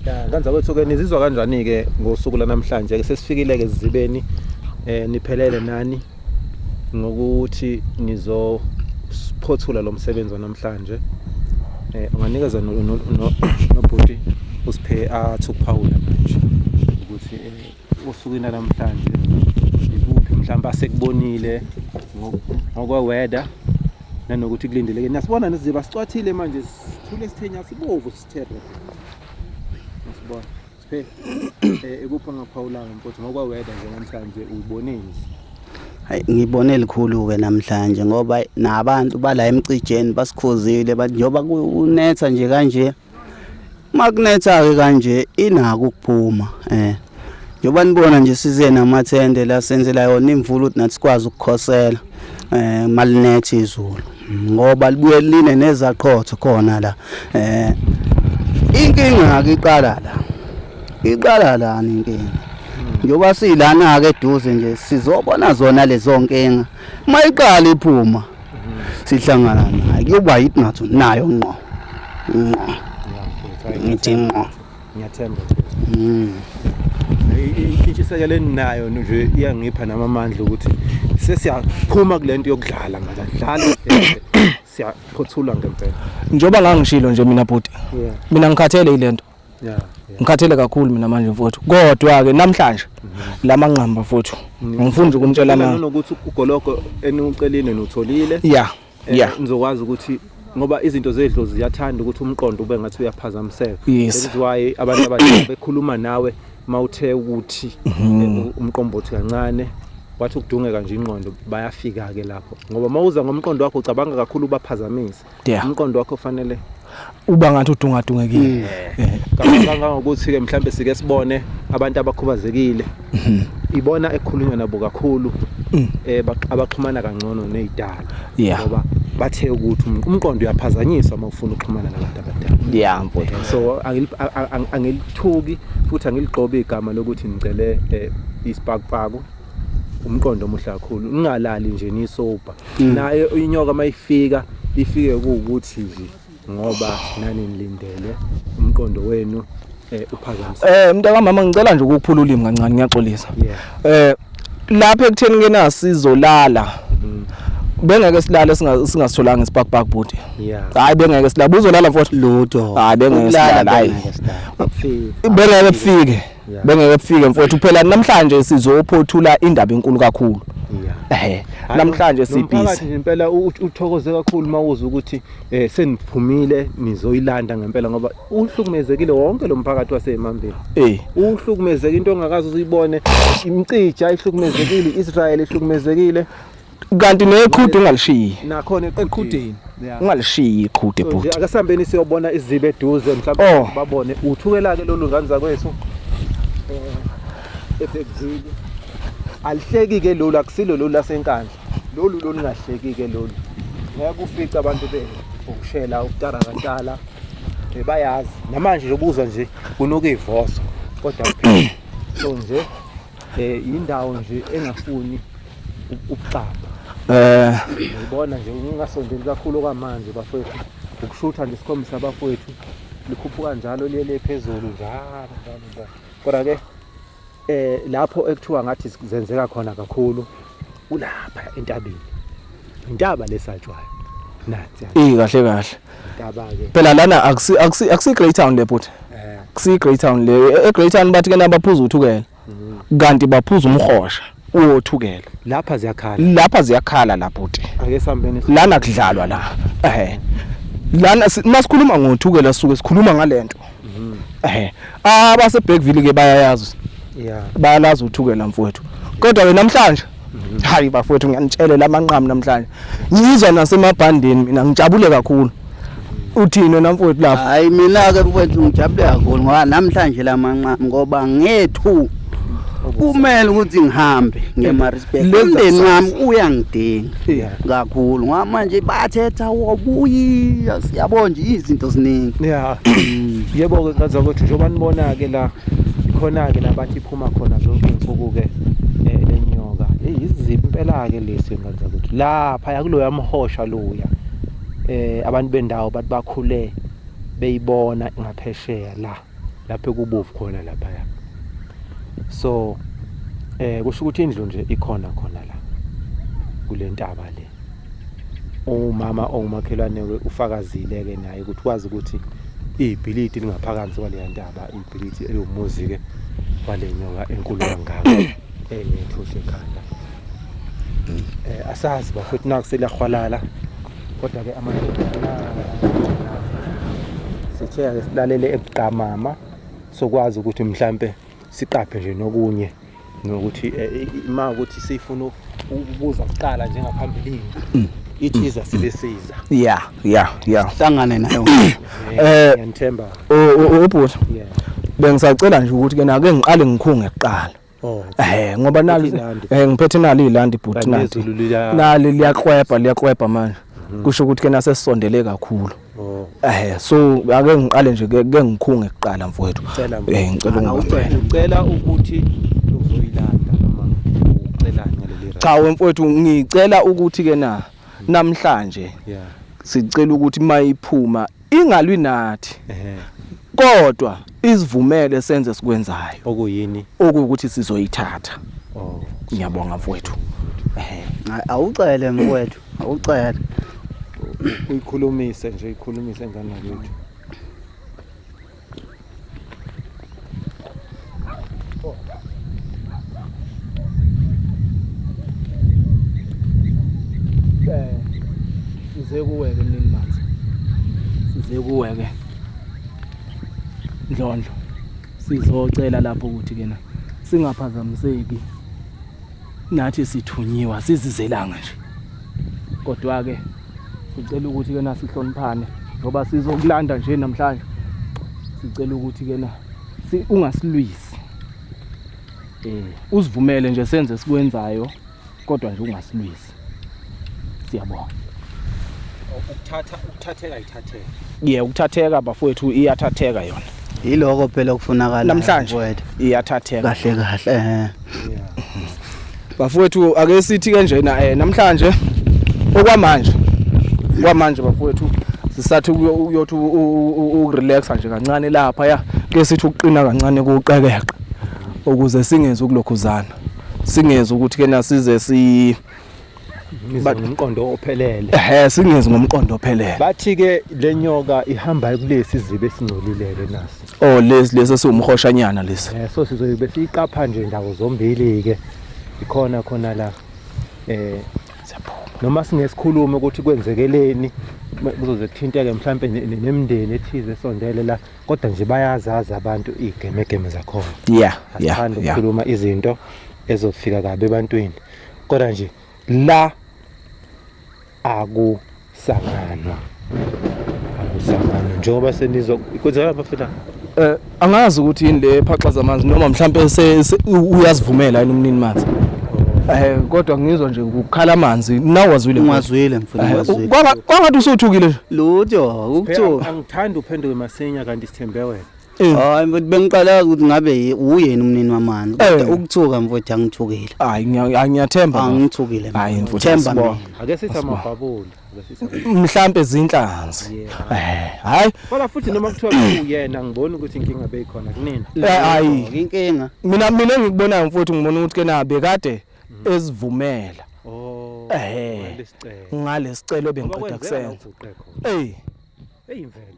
Ya kanza kwethu ke nizizwa kanjani ke ngosuku lanamhlanje ke sesifikile ke zibeni eh niphelele nani ngokuthi nizo phothula lo msebenzi namhlanje eh unganikeza nobhuti usiphe athi ukuphawula manje ukuthi eh, osukwini namhlanje ikuphi mhlawumbe asekubonile ngokwe-weather nanokuthi kulindeleke niyasibona nesiziba sicwathile manje sithule sithenya sibovu sithere niyasibona siphe eh, ikuphi ongaphawulanga mfowethu ngokwe-weather nje namhlanje uyiboneni hayi ngibone likhulu-ke namhlanje ngoba nabantu bala emcijeni basikhuzile njengoba kunetha nje kanje Makunetha ke kanje inako ukuphuma eh njengoba nibona nje size namathende la senzela yona imvula ukuthi nathi sikwazi ukukhosela eh malinethe izulu ngoba libuye line nezaqhotho khona la eh inkinga ke iqala la iqala la inkinga njengoba silana ke eduze nje sizobona zona lezo nkinga uma iqala iphuma sihlangana naye kuyoba yidinatho nayo ngqo ngqo ngithi ngqo ngiyathemba mm. intshisekelo eninayo nje iyangipha nami amandla ukuthi sesiyaphuma kule nto yokudlala manje adlala siyaphothulwa ngempela njengoba ngangishilo nje mina bhuti mina ngikhathele yile nto Yeah, yeah. Ngikhathele kakhulu mina manje mfowethu. Kodwa ke namhlanje mm -hmm. lamanqamba mfowethu. Mm -hmm. Ngifuna ukumtshela manje. Ngifuna ukuthi ugologo eniwucelile notholile. Yeah. Eh, yeah. Ngizokwazi ukuthi ngoba izinto zedlo ziyathanda ukuthi umqondo ube ngathi uyaphazamiseka yes. that is why abantu abadala bekhuluma nawe mawuthe ukuthi mm -hmm. umqombothi kancane wathi ukudungeka nje inqondo bayafika ke lapho ngoba mawuza ngomqondo wakho ucabanga kakhulu ubaphazamise yeah. umqondo wakho fanele uba ngathi udungadungekile mm. eh. kangangokuthi ke mhlambe sike sibone abantu abakhubazekile mhm. ibona ekhulunywa nabo kakhulu mm. eh abaxhumana kangcono nezidala ngoba bathe ukuthi um, umqondo uyaphazanyiswa uma ufuna ukuxhumana nabantu abadala yeah mfowethu eh, so angilithuki futhi angiligqobi igama lokuthi ngicele eh, isipakpaku umqondo omuhle kakhulu ungalali nje nisober mm. naye inyoka mayifika ifike kuwukuthi nje ngoba nani nilindele umqondo wenu eh uphazamiseka eh mntaka mama ngicela nje ukuphula ulimi kancane ngiyaxolisa eh lapha ekutheni kenasizo lala mm. bengeke silale singasitholanga ispark park bhuti hayi bengeke silale buzolala mfowethu ludo hayi bengeke silale hayi bengeke kufike bengeke bufike mfowethu phela namhlanje sizophothula indaba enkulu kakhulu ehe namhlanje sibhizi ngempela uthokoze kakhulu mawuza ukuthi eh, seniphumile nizoyilanda ngempela ngoba uhlukumezekile wonke lo mphakathi waseMambeni eh uhlukumezeke into ongakazi uzuyibone imcija ihlukumezekile iIsrael ihlukumezekile kanti neqhude ungalishiyi nakhona eqhudeni ungalishiyi iqhude bhuti akasambeni siyobona izibe eduze mhlawumbe oh. babone uthukela ke lolu ngane zakwethu eh, ebhekuzile alihleki ke lolu akusilo lolu lasenkandla lolu lolu ngahleki ke lolu ngeke ufice abantu be ukushela ukutara kantala eh, bayazi namanje nje ubuzwa nje kunuka ivoso kodwa kuphela so nje eh indawo nje engafuni ukuxamba eh ngibona nje ungasondeli kakhulu kwamanje bafowethu ukushutha nje sikhombisa abafowethu likhuphuka njalo liye le phezulu njalo njalo njalo kodwa ke eh lapho ekuthiwa ngathi zenzeka khona kakhulu kulapha entabeni intaba lesatshwayo nansi eh kahle kahle phela lana akusi akusi akusi Greytown le bhuti eh. kusi Greytown le e, e Greytown bathi ke nabaphuza uthukela mm-hmm. kanti baphuza umhosha uyothukela lapha ziyakhala lapha ziyakhala la bhuti ake sambeni lana kudlalwa la ehe lana masikhuluma ngothukela suke sikhuluma ngalento mm-hmm. ehe abase Bergville ke bayayazi yeah bayalazi uthukela mfowethu kodwa ke namhlanje Hayi bafowethu ngiyanitshelela amanqamu namhlanje. Ngizwa nasemabhandeni mina ngijabule kakhulu. Uthini wena mfowethu lapho? Hayi mina ke mfowethu ngijabule kakhulu ngoba namhlanje lamanqamu ngoba ngethu kumele ukuthi ngihambe ngeMaritzburg Leza umndeni sasa. wami uyangidinga Yeah. kakhulu ngoba manje bathetha wobuya siyabo nje izinto ziningi Yeah. Yebo ke ngazakwethu njengoba nibona ke la khona ke nabathi Uma khona zonke iy'nsuku-ke lenyoka eh, eyi iziphi impela-ke lesi ngane zakwethu laphaya kuloya mhosha loya um abantu bendawo bathi bakhule beyibona ngaphesheya la lapho ekubovu khona laphaya so eh kusho ukuthi indlu nje ikhona khona la kule ntaba le umama ongumakhelwane-ke ufakazile-ke naye ukuthi wazi ukuthi ibhilidi lingaphakansi kwaleya ntaba lithi eliwumuzi ke wale nyoka enkulu kangaka enethusha ekhanda eh asazi bafethu nakuseliyahwalala kodwa ke amadoda sithe ke silalele ebuqamama sokwazi ukuthi mhlambe siqaphe nje nokunye nokuthi eh, uma ukuthi sifuna ukubuza kuqala njengaphambilini mm. ithiza mm. sibe siza ya ya ya hlangane nayo eh ngiyamthemba ubhuti bengisacela nje ukuthi ke nake ngiqale ngikhunge kuqala Oh. Eh ngoba nali eh ngiphethe nali ilandi bhuti nali. Nali liyakwebha liyakwebha manje. Mhm. Kusho ukuthi ke nasesondele kakhulu. Oh. Eh so ake ngiqale nje ke ngikhunge kuqala mfowethu. Eh ngicela ungicela. Ngicela ukuthi uzoyilanda noma ucela ngaleli rap. Cha wemfowethu ngicela ukuthi ke na namhlanje. Yeah. Sicela ukuthi mayiphuma ingalwi nathi. Ehhe. Kodwa isivumele senze sikwenzayo. Okuyini? Okuwukuthi sizoyithatha. Oh. Ngiyabonga mfowethu. Ehhe. Awucele mfowethu. Awucele. Uyikhulumise nje, uyikhulumise ingane yakwethu. Eh, size kuwe-ke mnini manzi size kuwe-ke ndlondlo sizocela lapho ukuthi kena singaphazamiseki Nathi sithunyiwa sizizelanga nje. Kodwa ke sicela ukuthi ke nasihloniphane ngoba sizokulanda nje namhlanje. Sicela ukuthi ke na ungasilwisi. Eh usivumele nje senze sikwenzayo kodwa nje ungasilwisi. Siyabonga. Ukuthatha ukuthatheka ithatheka. Yeah ukuthatheka bafowethu iyathatheka yona. Yiloko phela okufunakala namhlanje iyathatheka kahle kahle eh bafowethu ake sithi kanjena eh namhlanje okwamanje kwamanje bafowethu sisathi uyothi ukurelaxa nje kancane lapha ya ke sithi ukuqina kancane kuqekeqa ukuze singenzi ukulokhuzana singenzi ukuthi ke nasize si Ngize ngomqondo ophelele. Ehhe singezi ngomqondo ophelele. Bathi ke lenyoka ihamba kulesi zibe singcolileke nasi. Oh lesi lesi siwumhoshanyana lesi. Eh so sizobe siyiqapha nje ndawo zombili ke. Ikhona khona la. Eh noma singesikhuluma ukuthi kwenzekeleni kuzoze kuthinteke mhlampe nemndeni ethize esondele la kodwa nje bayazazi abantu igemegeme zakhona. Yeah. Yeah. Asikhanda ukukhuluma izinto ezofika kabi ebantwini. Kodwa nje la akusanganwa. Akusanganwa njengoba senizwa kwenzeka bafethu. Eh angazi ukuthi yini le phaxaza amanzi noma mhlambe uyazivumela yini umnini manzi. Eh kodwa ngizwa nje ukukhala amanzi nawe wazwile ngwazwile mfuna eh, wazwile kwangathi usuthukile lutho ukuthiwa angithandi uphenduke masinya kanti sithembe wena Eh. hayi mfowethu bengiqalaza ukuthi ngabe ye- uyena umnini wamani Eh. kodwa ukuthuka mfowethu angithukile hayi ngiya- hayi, ngiyathemba bafo. angithukile Hayi, mina. mfowethu, themba asibonge. mina ake sithi amabhabuli ake sithi amabhabuli. mhlampe zinhlanzi Eh, hayi kodwa futhi noma kuthiwa kuyena ngibona ukuthi inkinga beyikhona kunina Eh, hayi inkinga mina mina engikubonayo mfowethu ngibona ukuthi kena bekade ezivumela oh Ehhe. lesicelo ngalesicelo ngoba bengiceda kwenzeka kusenza uguqe khona eyi eyimvelo